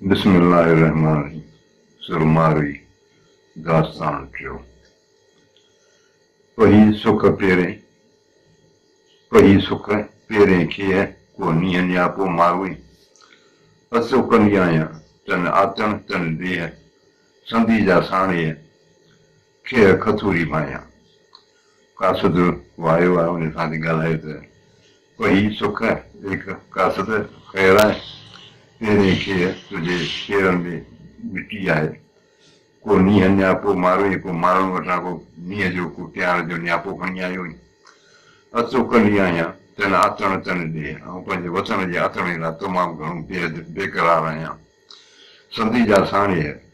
بسم الله الرحمن الرحيم سرمارئي داستان ٽيون پهي سک پيرين پهي سک پيرين کيء ڪو نينهن نياپو ماروئي اسو ڪندي آهيان تن آتڻ تن ڏيهه سندي جا ساڻيهه کيء کٿوري ڀانيان. قاصد وايو آهي ان سان ٿي ڳالهائي ته، پهي سک ايڪ قاصد خير آهي، تيرين کيء تنهنجي پيرن ۾ مٽي آهي. ڪو نينهن نياپو ماروئين ڪو ماڻهن وٽان ڪو نينهن جو ڪو ٽياڻ جو نياپو کڻي آيوئين. اتو ڪني آهيان، تنهن آتڻ تنهن ڏي. آئون پنهنجي وطن جي آتڻي لاء تمام گهڻو بي حد بيقرار آهيان. سندي جا ساڻيهه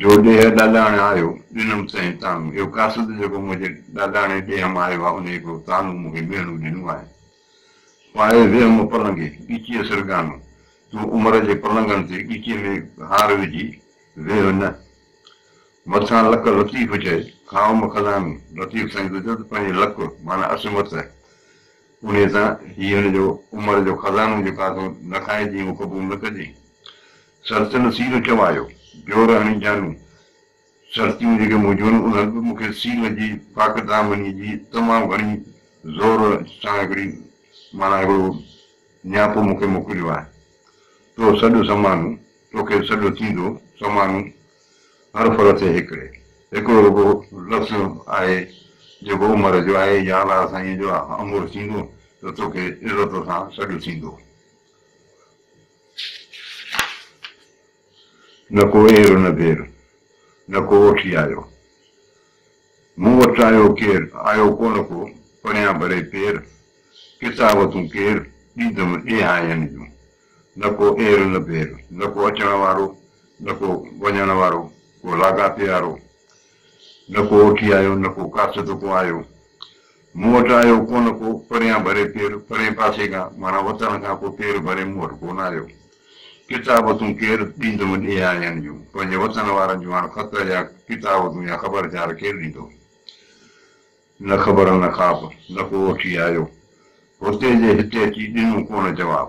جو ڏيهه ڏاڏاڻي آيو، ڏنم سئين طعنو. اهو قاصد جيڪو منهنجي ڏاڏاڻي ڏيهه مان آيو آهي، ان هڪڙو طعنو مون کي ميڻو ڏنو آهي. پائي ويهمه پلنگي، ڳچيء سرڳانو. تون عمر جي پلنگن تي ڳچيء ۾ هار وجهي ويهه نه. مٿان لڪ لطيف چئي، کائوم کلامي، لطيف سائين ته چئو ته پنهنجي لڪ معنيٰ عصمت، انهيء تان هيء هن جو عمر جو خزانو جيڪو آٿو، نه کائجين، اهو قبول نه ڪجين. سرت نه سيل چوايو، جور هڻي جانو. سرتيون جيڪي مون جون انهن به مون کي سيل جي طاقت آمني جي تمام گهڻي زور سان هڪڙي معنيٰ هڪڙو نياپو مون کي موڪليو آهي. تو سڏ سمانو، توکي سڏ ٿيندو سمانو. هر ڦر تي هڪڙي، هڪڙو رڳو لفظ آهي جيڪو عمر جو آهي، يا الله سائينء جو آهه امر ٿيندو ته توکي عزت سان سڏ ٿيندو. نه ڪو اير نه دير، نه ڪو اوٺي آيو. مون وٽ آيو ڪير، آيو ڪونه ڪو، پريان ڀري پير، ڪتاب تون ڪير، ڏيندم ايهائين جون. نه ڪو اير نه دير، نه ڪو اچڻ وارو، نه ڪو وڃڻ وارو، ڪو لاڳاپيارو. نه ڪو اوٺي آيو، نه ڪو ڪاٿ تون ڪو آيو. مون وٽ آيو ڪونه ڪو، پريان ڀري پير، پرين پاسي کان، معنيٰ وطن کان ڪو پير ڀري مون وٽ ڪونه آيو. ڪتابتون ڪير ڏيندو ان ايهائين جون، پنهنجي وطن وارن جون هاڻ خط يا ڪتابتون يا خبرچار ڪير ڏيندو. نه خبر نه خاب، نه ڪو اٺي آيو، هتي جي هتي اچي ڏنو ڪونه جواب.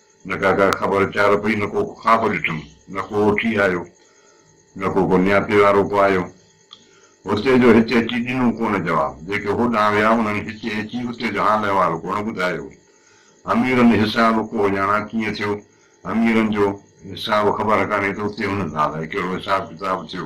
نه ڪا ڪا خبر چار پئي نه ڪو خواب ڏٺم نه ڪو اٺي آيو نه ڪو ڪو نياپي وارو ڪو آيو هتي جو هتي اچي ڏنو ڪو نه جواب جيڪي هوڏانهن ويا انهن هتي اچي اتي جو حال احوال ڪو نه ٻڌايو اميرن حساب ڪو اڄاڻا ڪيئن ٿيو اميرن جو حساب خبر ڪانهي ته اتي انهن سان الائي ڪهڙو حساب ڪتاب ٿيو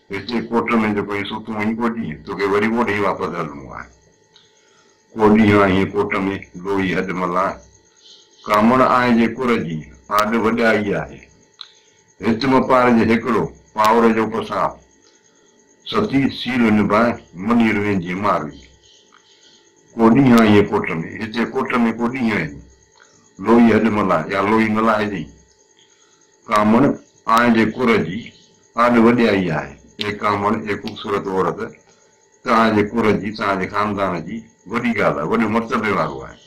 هتي ڪوٽ ۾ جيڪو ائين ستون آهين ڪو ڏينهن، توکي وري اوڏي ئي واپس هلڻو آهي. ڪو ڏينهن آهين ڪوٽ ۾، لوئي هڏ ملان. ڪامڻ آهي جي ڪر جي، آڏ وڏائي آهي. هت مپار جي هيڪڙو، پاور جو پساهه. ستي سيل نڀائي، منير ويندينء ماروي. ڪو ڏينهن آهين ڪوٽ ۾، هتي ڪوٽ ۾ ڪو ڏينهن آهين. لوئي هڏ ملان يا لوئي ملهائجين. ڪامڻ آنء جي ڪر جي آڏ وڏيائي آهي. اي ڪامڻ، اي خوبصورت عورت، ته آنء جي ڪر جي، توهان جي خاندان جي وڏي ڳالهه آهي، وڏي مرتبي وارو آهي.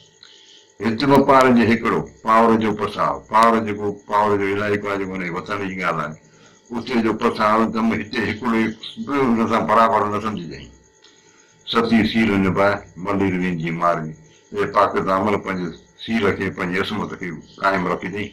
هت به پار جي هيڪڙو، پاور جو پساهه، پاور جيڪو پاور جو علائقو آهي، جيڪو هن جي وطن جي ڳالهه آهي، اتي جو پساهه ته م هتي هيڪڙو ئي به هن سان برابر نه سمجهجئين. ستي سيل نباهه، ملير ويندينء مارئي. اي پاڪ دامن، پنهنجي سيل کي، پنهنجي عصمت کي قائم رکجئين.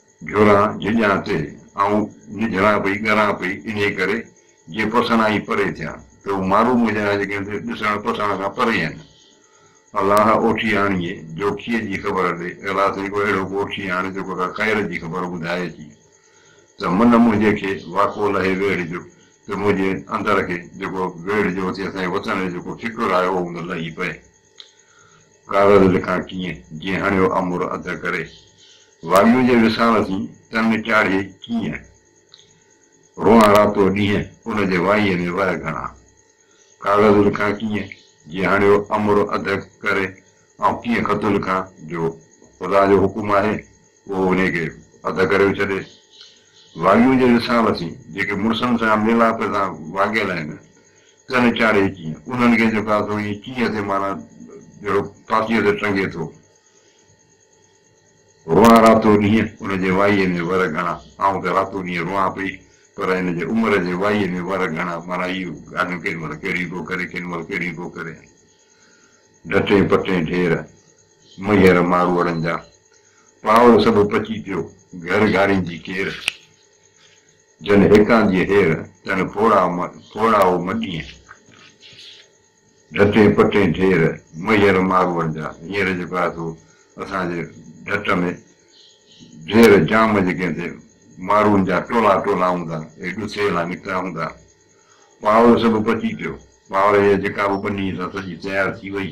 جھران جھڄان تي آئون نجھران پئي ڳران پئي انھيء ڪري جي پسڻ آئين پري ٿيان ته ھو مارو منھنجا آھن جيڪي ھن ڏسڻ پسڻ کان پري آھن. الله اوٺي آڻيئي جوکيء جي خبر ڏي الله سائين ڪو اھڙو ڪو اوٺي آڻي جيڪو ڪا خير جي خبر ٻڌائي اچي ته من منھنجي کي واڪو لھي ويڙھه جو ته منھنجي اندر کي جيڪو ويڙھه جو اٿي اسان جي وطن جو جيڪو فڪر آيو ھو ان لھي پئي. ڪاغذ لکان ڪيئن، جي هڻيو امر اڌ ڪري. وائيون جي وصال سين، تن چاڙهي ڪيئن. روئان راتو ڏينهن، ان جي وائيء ۾ وهه گهڻا. ڪاغذ لکان ڪيئن، جي هڻيو امر اڌ ڪري. آئون ڪيئن خط لکان، جو خدا جو حڪم آهي. پوء انهي کي اڌ ڪريو ڇڏي. واڳيون جي رسالتين، جيڪي مڙسن سان ميلاپ سان واڳيل آهن، ڪن چاڙهي اچي، انهن کي جهڪا ٿو ائين چينهن تي معنيٰ جهڙو پاتيء تي ٽنگي ٿو. روئان راتو ڏينهن، ان جي وائيء ۾ ور گهڻا. آئون ته راتو ڏينهن روئان پئي، پر هن جي عمر جي وائيء ۾ ور گهڻا، معنيٰ هيء ڳالهيون ڪيڏي مهل ڪهڙيون ٿو ڪري، ڪيڏي مهل ڪهڙيون ٿو ڪري. ڍٽين پٽين ڍير. ميهر ماروئڙن جا پاور سڀ پچي پيو گهر گهاريندي ڪير جن هيڪان جي هير تن ڦوڙا ڦوڙائو مٽين ڍٽين پٽين ڍير ميهر ماروئڙن جا هينئر جيڪو آهي سو اسان جي ڍٽ ۾ ڍير جام جيڪي هتي ماروئن جا ٽولا ٽولا هوندا اهي ڏسي لا نڪتا هوندا پاور سڀ پچي پيو پاور هيء جيڪا به ٻني سان سڄي تيار ٿي وئي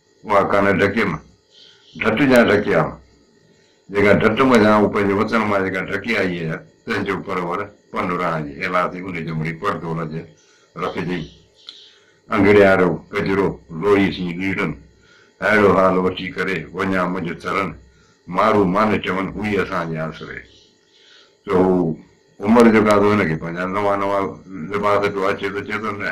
اها ڪانه ڍڪيم، ڍٽ جيان ڍڪي آيم. جيڪا ڍٽ منجهان هو پنهنجي وطن مان جيڪا ڍڪي آئي هيء، تنهن جو پرور پن ران جي هيلا تي انهي جمڙي پڙدول جيان رکجئي. انگڙيارو ڪجرو لوهي سين ليڙن، هائڙو حال وٺي ڪري وڃان منجهه ٿرن، مارو مان چون هوئي اسان جي آسري. سو هو عمر جو ڪاڌو هن کي پنهنجا نوان نوان لباس پيو آڇي ته چئي ٿو نه!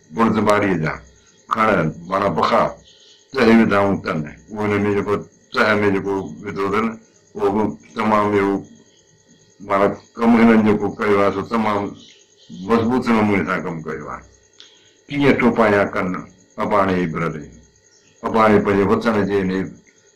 بڙد ٻاريء جا کڻ مانا پکا تهه وڌائون تن، انهن ۾ جيڪو تهه ۾ جيڪو وڌو اٿن، اهو به تمام اهو مانا ڪم هنن جيڪو ڪيو آهي، سو تمام مضبوط نموني سان ڪم ڪيو آهي. ڪيئن ٽوپايان ڪن اباڻي ابرلين، اباڻي پنهنجي وطن جي انهيء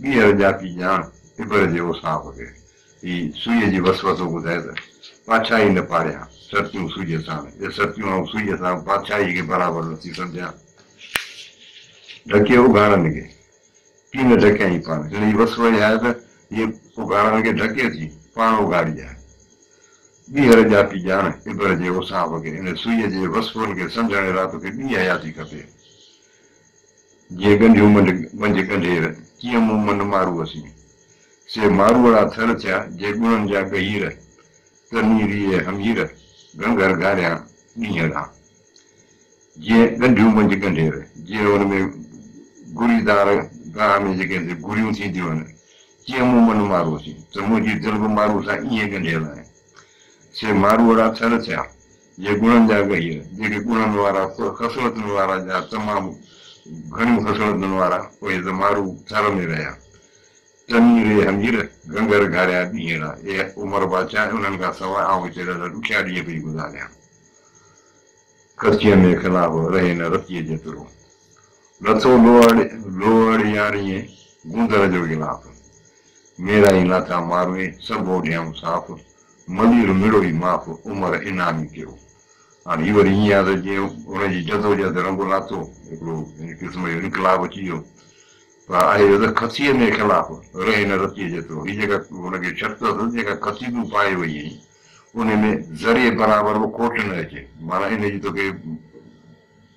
ٻيهر ڄاتي ڄاڻ ابر جي اوصاف کي ئي سوئيء جي وسوسو ٻڌائي ته، پاڇائي نه پاريان سرتيون سوئيء ساڻ، جي سرتيون آئون سوئيء سان پاڇائيء کي برابر نه ٿي سمجهان. ڍڪي اگهاڙن کي ڪي نه ڍڪيائين پاڻ هن جي وس وئي آهي ته جيئن اگهاڙن کي ڍڪي ٿي پاڻ اگهاڙي آهي. ٻيهر ڄاتي ڄاڻ ابر جي اوصاف کي ان سوئيء جي وسوسن کي سمجهڻ لاء توکي ٻي حياتي کپي. جي ڳنڍيون منڍ منجهه ڳنڍير، ڪيئن مون من مارو اسين. سي ماروئڙا ٿر ٿيا، جي ڳڻن جا ڳهير، ته ني ريئي همير، گهنگهر گهاريان ڏينهن ران. جي ڳنڍيون منجهه ڳنڍير، جي ان ۾ گهري دار گاهه ۾ جيڪي اندر گهريون ٿينديون آهن، ڪيئن مون من مارو اسين، ته منهنجي دل به مارو سان ايئن ڳنڍيل آهي. سي ماروئڙا ٿر ٿيا، جي گڻن جا ڳهيء، جيڪي گڻن وارا، پوء خصلتن وارا، جا تمام گهڻيون خصلتن وارا، پوء ته مارو ٿر ۾ رهيا. تني ري همير، گهنگهر گهاريا ڏينهن را، اي عمر بادشاهه، انهن کان سواء آئون هتي ڏاڍا ڏکيا ڏينهن پئي گذاريان. ڪچيء ۾ خلاف رهي نه رتيء جيترو، لٿو لوهڙيارينء گوندر جو غلاف، ميرائين لاٿا ماروئي، سڀ اوڍيائون صاف، ملير مڙوئي معاف عمر انعامي ٿيو. هاڻ هي وري ائين آهي ته جيئن ان جي جدوجهد رنگ لاٿو، هڪڙو هن قسم جو انقلاب اچي ويو. پر آهي اهو ته کسيء مي خلاف رهي نه رتيء جيترو. هي جيڪا هن کي شرط اٿس، جيڪا کسي تون پائي وئي آهين، ان ۾ ذري برابر به کوٽ نه اچي. معنيٰ ان جي توکي.